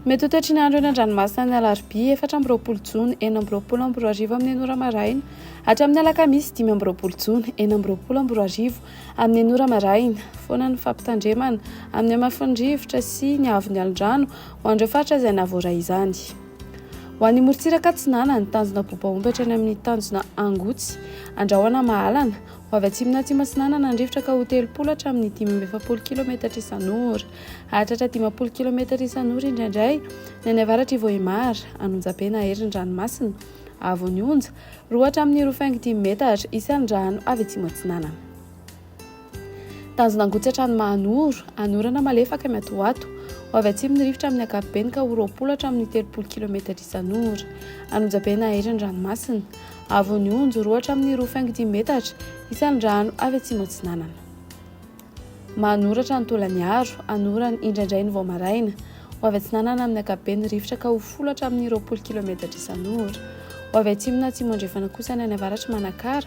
Mety ho toetry ny andro eny an-dranomasina ny alarobia efatra amby roapolo jona enina amby roapolo amby roa arivo amin'ny enora maraina hatramin'ny alakamisy dimy amby roapolo jona enina amby roapolo amby roa arivo amin'ny enora maraina foana ny fampitandremana amin'ny hamafin'ny rivotra sy ny avon'ny alondrano ho an'ireo faritra izay nahavoaray izany. Ho an'ny morontsiraka atsinanana, ny tanjona bobaomby hatrany amin'ny tanjona angotsy. Andrahoana mahalana. Ho avy atsimona atsimo-atsinanana andrivotra ka ho telopolo hatramin'ny dimy amby efapolo kilometatra isan'ora. Hahatratra dimampolo kilometatra isan'ora indraindray ny any avaratr'i Vohemar, an'Onjabe na herin'ny ranomasina. Avo ny onja, roa hatramin'ny roa faingo dimy metatra, isan'ny rano avy atsimo-atsinanana. Tanjona hangotsatra ny maha-an'oro, any orana malefaka miatoato, ho avy atsimo ny rivotra amin'ny ankapobeny ka ho roapolo hatramin'ny telopolo kilometatra isan'ora. Hanonjabe ny naherin'ny ranomasina. Hahavon'ny onjo roa hatramin'ny roa faingo dimy metatra isan'ny rano avy atsimo atsinanana. Mahanoratra ny Tolaniaro, any orana, indraindray ny vao maraina. Ho avy atsinanana amin'ny ankapobeny ny rivotra ka ho folo hatramin'ny roapolo kilometatra isan'ora. Ho avy atsimo na atsimo andrefana kosa ny any avaratry Manakara,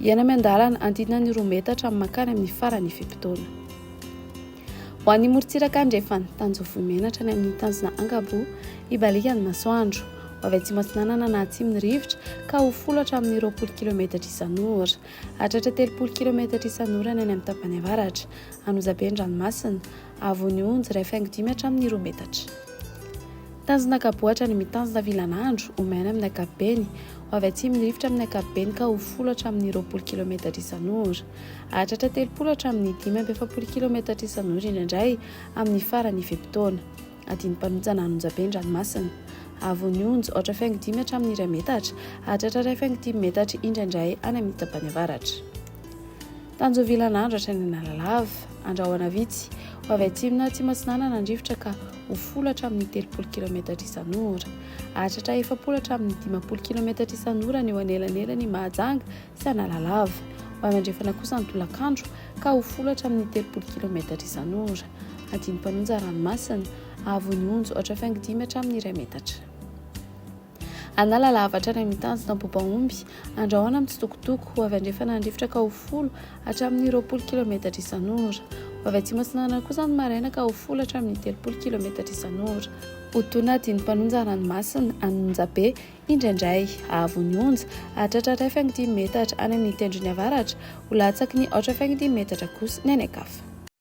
Hiaina miandalana, andinina ny roa metatra mankany amin'ny farany ifem-potoana. Ho an'ny morontsiraka andrefana, Tanjovy menatra any amin'ny tanjona Angabo, hibaliaka ny masoandro. Ho avy atsimo atsinanana na atsimo ny rivotra, ka ho folo hatramin'ny roapolo kilometatra isan'ora. Hahatratra telopolo kilometatra isan'ora ny any amin'ny tapany avaratra. Hanoza be ny ranomasina. Avon'ny onjy iray faingo dimy hatramin'ny roa metatra. Tanjona Kabohatra ny mitazona vilan'andro ho maina amin'ny ankapobeny, ho avy atsimon'ny rivotra amin'ny ankapobeny ka ho folo hatramin'ny roapolo kilometatra isan'ora. Hahatratra telopolo hatramin'ny dimy amby efapolo kilometatra isan'ora indraindray amin'ny faran'ny fe-potoana. Adin'ny mpanontsana an'onjabe ny ranomasina. Avon'ny onjy aotra faingo dimy hatramin'ny iray metatra, hahatratra iray faingo dimy metatra indraindray any amin'ny tapany avaratra. Tanjovila Andratra any Analalava. Andrahona vitsy, ho avy atsimona atsimo-atsinanana andrivotra ka ho folo hatramin'ny telopolo kilaometatra isan'ora. Hahatratra efapolo hatramin'ny dimampolo kilaometatra isan'ora ny eo anelanelan'i Mahajanga sy Analalava. Ho avy andrefana kosa ny tolakandro ka ho folo hatramin'ny telopolo kilaometatra isan'ora. Andinim-panonja ranomasina. Hahavon'ny onjo hatrafaingo dimy hatramin'ny iray metatra. Anala lava hatrany amin'ny tanjona bobaomby. Andrahona amin'ny tsitokotoko, ho avy andrefana handrifotra ka ho folo hatramin'ny roapolo kilaometatra isan'ora. Ho avy atsimo-atsinanana kosa ny maraina ka ho folo hatramin'ny telopolo kilaometatra isan'ora. Otona dian'ny mpanonja ranomasina any Monjabe indraindray. Avo ny onja, hahatratra iray faingo dimy metatra any amin'ny tendrony avaratra, ho latsaky ny aotra faingo dimy metatra kosa ny any an-kafa.